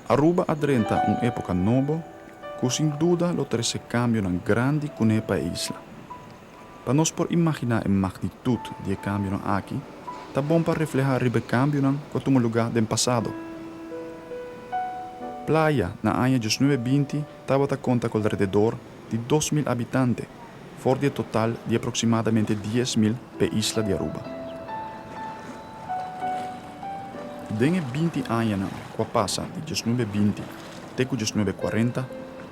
Aruba a drenta un epoca nobo cu sin duda lo trece cambionan grandi cune pa e isla. Pa nos por imaginá e magnitut di e kambionan aki, ta bon pa reflehá riba e kambionan ku a tuma lugá den pasado. Playa na aña diesnuebe binti tabata konta ku alrededor di dos mil abitante for di e total di aproksimadamente dies mil pa e isla di Aruba. Den e binti añanan ku a pasa di diesnuebe binti, Te cu diesnuebe cuarenta,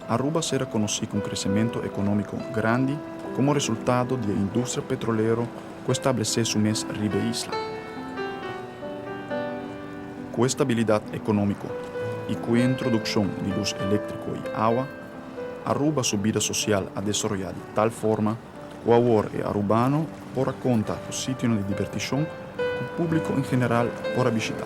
Aruba sera conoci cu un crecemento economico grandi como resultado di e industria petrolero cu establece su mes riba e isla. Cu estabilidad economico y cu e introduccion di luz electrico y awa, Aruba su bida social a desaroya di tal forma cu awor e Arubano por a conta cu sitionan di diberticion cu publico en general por a bishita.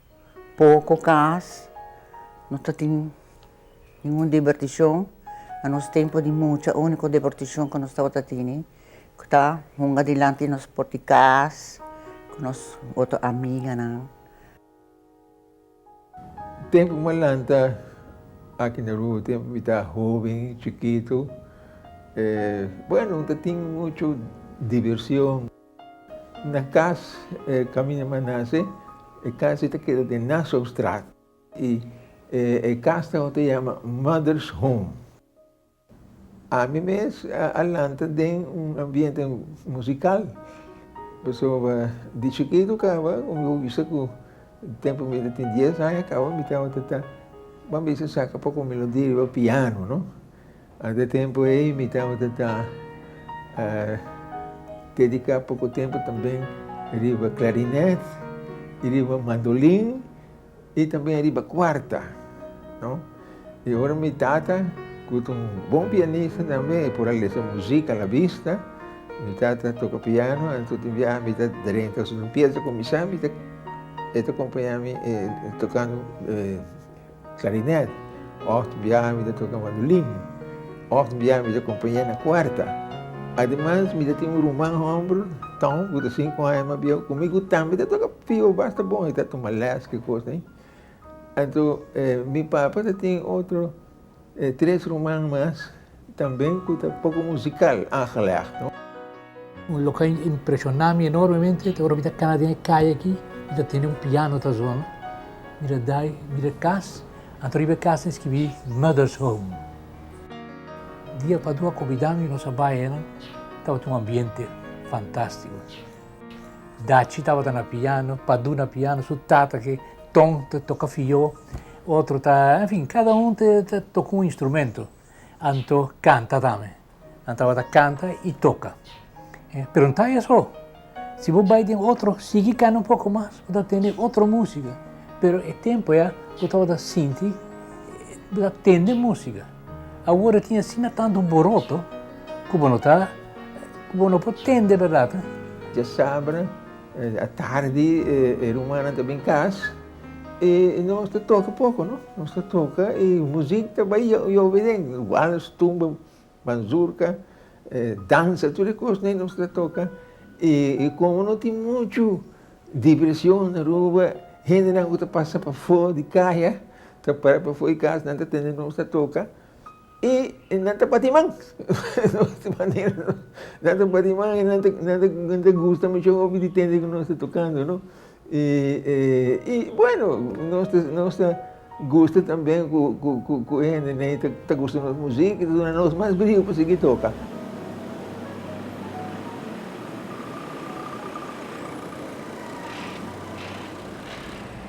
Poko kas, no ta tin ningun dibertishon, na nos tempu di mucha úniko dibertishon ku nos tabata tene ku ta hunga dilanti di nos por di kas ku nos otro amiganan. Tempu ku m'a lanta aki na Ruma, tempu mi ta hoben, chikitu, bueno, no ta tin muchu dibersion. Na kas e kaminda Manase, e kas ei ta keda den Nassaustraat, i e kas ta ota yama Mother's Home. Ami mes a lanta den un ambiente musikal, pasobra di chikitu kaba, ku mi wisa ku tempu mi ta tin dies aña kaba, mi tabata ta, bon a bese, saka poko melodía riba piano, no. Na e tempu ei mi tabata ta dediká poko tempu tambe riba klarinet i riba mandolin i tambe riba kuarta. No? I ora mi tata, ku ta un bon pianista tambe, e por a lesa musik a la bista, mi tata toka piano, anto di biaha mi ta drenta su un pies di kuminsá, mi ta, e ta kompañá mi tokando. Klarinet, òf biaha mi ta toka mandolin, òf biaha mi ta kompañá na kuarta. Ademas mi ta tin un ruman hòmber, Tom, ku ta sinku aña mas biaha ku mi, ku tambe ta toka pio basta bon, e ta tuma lès, ke kos ei. Anto, mi papa ta tin otro. E tres ruman mas tambe ku ta poko musikal aangelegd. Un loke impreshoná mi enormemente ta ora mi ta kana den e kai aki, mi ta tende un piano ta zona, mi ta dai, mi ta kas, anto riba e kas ta eskibí Mother's Home. Dia Padua kombidá mi nos a bai enan, tabata un ambiente fantástiko. Dachi tabata na piano, Padu na piano, su tata ke Ton ta toka fió. Otro ta, en fin, cada un ta toca un instrumento. Anto canta tambe. Nan tabata canta y toca. Pero n'ta ey aso. Si bo bay den otro, sigui cana un poco mas, bo ta tende otro musica. Pero e tempo ya bo tabata sinti, bo ta tende musica. Awor tin asina tanto boroto cu bo no ta, cu bo no por tende, berdad. Diasabra atardi e rumannan ta bin cas. E nos ta toka poko no, nos ta toka e muzik ta bai yobe den, walers, tumba, manzurka, dansa, tur e kos den nos ta toka. E komo no tin muchu diversión na Aruba, hendenan ku ta pasa pafó di kaya ta para pafó di kas nan ta tende nos ta toka. i nan ta bati man nan ta bati man i nan ta nan ta nan ta gusta mucho hopi di tende ku nos ta tokando no i i bueno nos ta nos ta gusta tamben ku ku ku ku e hendenan ei ta gusta nos musika i ta duna nos mas briu pa sigui toka.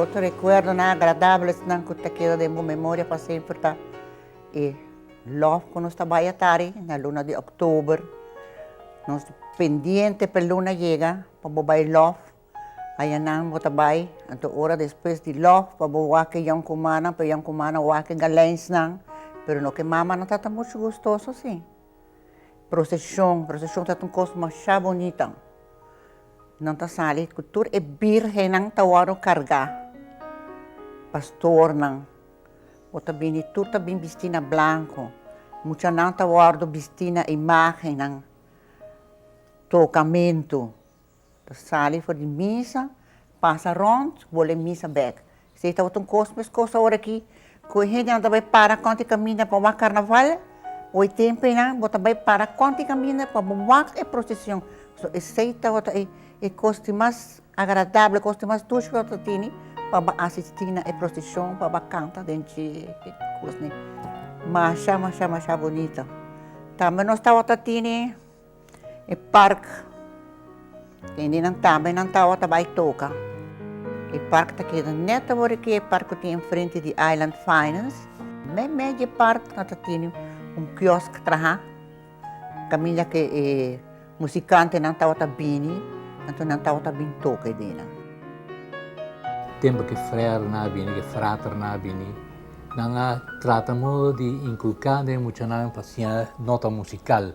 Otro recuerdonan agradablesnan cu ta keda den bo memoria pa semper ta e lof cu nos ta bay atari na luna di october, nos pendiente p'e luna yega pa bo bay lof, ayanan bo ta bay anto ora despues di lof pa bo wak e yon cumannan, p'e yon cumannan wak e galensnan pero no cu e mamanan tata mucho gustoso sin. Procesion, procesion ta un cos masha bonita, nan ta sali cu tur e birgennan ta wòrdu carga, pastornan bo ta bini tur ta bini bisti na blanco, muchanan ta wòrdu bisti na imagennan, tocamentu, Ta sali for di misa, pasa rònt, bole misa bèk. Steve tabata un kos mes kos awor aki, ku e hendenan ta bai para kònt e kaminda pa wak karnaval, o e tempunan bo ta bai para kònt e kaminda pa bo wak e prosesion. So esei tabata e kos di mas agradabel, e kos di mas dushi ku tabata ta tene pa bo a asistí na e prosesion, pa bo a kanta den dje e kosnan. Masha, masha, masha bunita. Tambe nos tabata tene. E park kende nan tambe nan tawa ta bai toka e park ta keda net awor di ki e park ku tin enfrente di Island Finance meme dje park nan ta tene un kiosk traha kaminda ke e musikantenan tawa ta bini anto nan tawa ta bin toka edena. Tempu ke frèrenan a bini ke fraternan a bini nan a trata modo di inkulká den e muchanan pa siña nota musikal.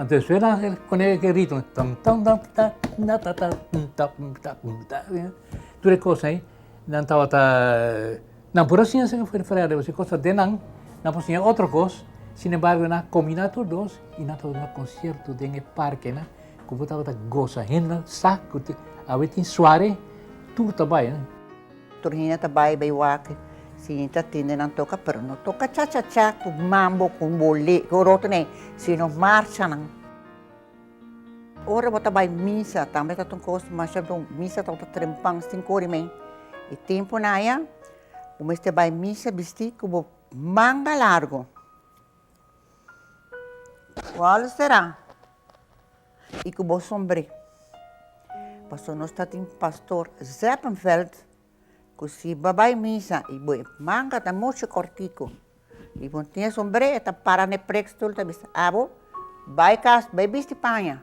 Anto suena kone e ritmo, tur e kos ei nan tabata, nan por a siña esaki for di fregadera, si e kos ta den nan, nan por siña otro kos, sin embargo nan a kombiná tur dos i nan tabata na konsierto den e parke nan ku bo tabata goza, hende nan sa ku tin, awe tin suare tur ta bai. Tur hende ta bai bai wak sin ta tende nan toka, pero no toka cha-cha-cha ku mambo, ku bolé, ku oroto nee, sino marcha nan. Ora bo ta bai misa tambe ta un kos masha bon, misa ta un trempan sin kore mei. E tempu nan aya bo mester bai misa bisti ku bo manga largu, ku all será. y cu bo sombre. Pasobra nos ta tin Pastor Zeppenveld cu si bo a bay misa y bo manga ta mucho cortico y bo no tin e sombre e ta para n'e preekstoel ta bisa abo bay cas bay bisti paña.